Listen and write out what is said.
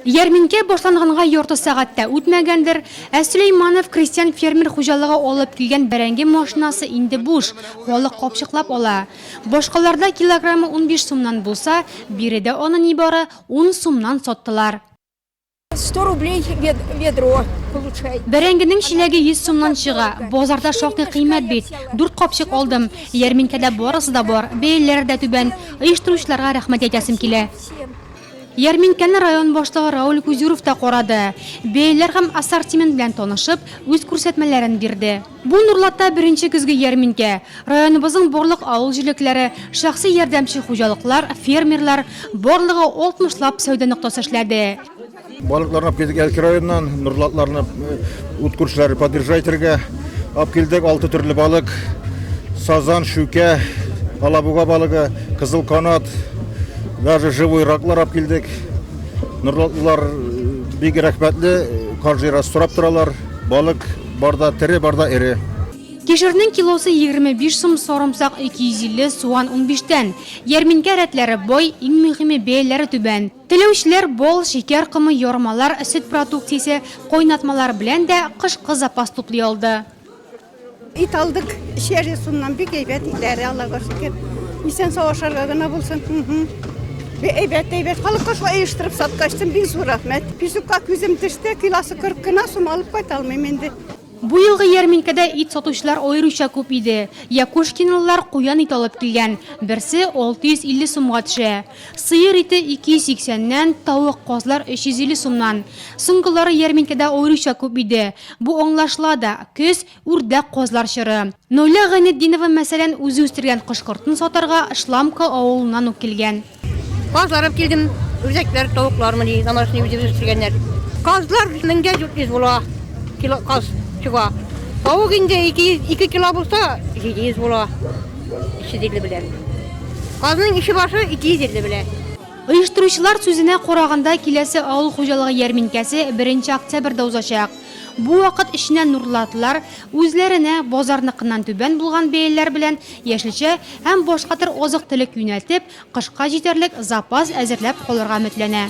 Ярминкә башланганга ярты сәгать тә үтмәгәндер, ә Сөләйманов крестьян-фермер хуҗалыгы алып килгән бәрәңге машинасы инде буш, халык капчыклап ала. Башкаларда килограммы унбиш сумнан булса, биредә аны нибары ун сумнан саттылар. Сто рублей ведро получай. Бәрәңгенең чиләге йөз сумнан чыга. Базарда шактый кыйммәт бит. Дүрт капчык алдым. Ярминкәдә барысы да бар, бәяләре дә түбән. Оештыручыларга рәхмәт әйтәсем килә. Ярминкәне район башлыгы Рауль Кузюров та карады, бәяләр һәм ассортимент белән танышып, үз күрсәтмәләрен бирде. Бу Нурлатта беренче көзге ярминкә. Районыбызның барлык авыл җилекләре, шәхси ярдәмче хуҗалыклар, фермерлар, барлыгы 60 лап сәүдә ноктасы эшләде. Балыкларны алып килдек Әлки районыннан, нурлы атларны ут күршеләре подъезжай итәргә алып килдек. Алты төрле балык, сазан, шүкә, алабуга балыгы, кызыл канат, даже живой раклар алып килдек. Нурлы атлылар бик рәхмәтле, каждый раз сорап торалар. Балык барда тере, барда эре. Кишернең килосы 25 сум, сарымсак 250, суган 15 тән. Ярминкә рәтләре бай, иң мөһиме, бәяләре түбән. Теләүчеләр бал, шикәр комы, ярмалар, сөт продукциясе, кайнатмалар белән дә кышкы запас туплый алды. Ит алдык, эчәбез шуннан, бик әйбәт итләре, Аллага шөкер. Исән-сау ашарга гына булсын. Бик әйбәт, әйбәт. Халыкка шулай оештырып саткач, бик зур рәхмәт. Песокка күзем төште, килосы 40 кына, шуны алып кайта алмыйм инде. Бу елгы ярминкәдә ит сатучылар аеруча күп иде. Якушкинлылар куян ите алып килгән, берсе 650 сумга төшә. Сыер ите 280 нән, тавык, казлар 350 сумнан. Соңгылары ярминкәдә аеруча күп иде. Бу аңлашыла да, көз, үрдәк, казлар чоры. Наилә Гайнетдинова, мәсәлән, үзе үстергән кош-кортын сатарга Шламка авылыннан ук килгән. Казлар алып килдем, үрдәкләр, тавыклармыни, домашний үзебез үстергәннәр. Казлар меңгә 400 була, кило каз чыга. Тавык инде 200, ике кило булса, 700 була. 350 белән. Казның ише башы 250 белән. Оештыручылар сүзенә караганда, киләсе авыл хуҗалыгы ярминкәсе беренче октябрьдә узачак. Бу вакыт эченә нурлатлар үзләренә базарныкыннан түбән булган бәяләр белән яшелчә һәм башка төр азык-төлек юнәлтеп, кышка җитәрлек запас әзерләп калырга өметләнә.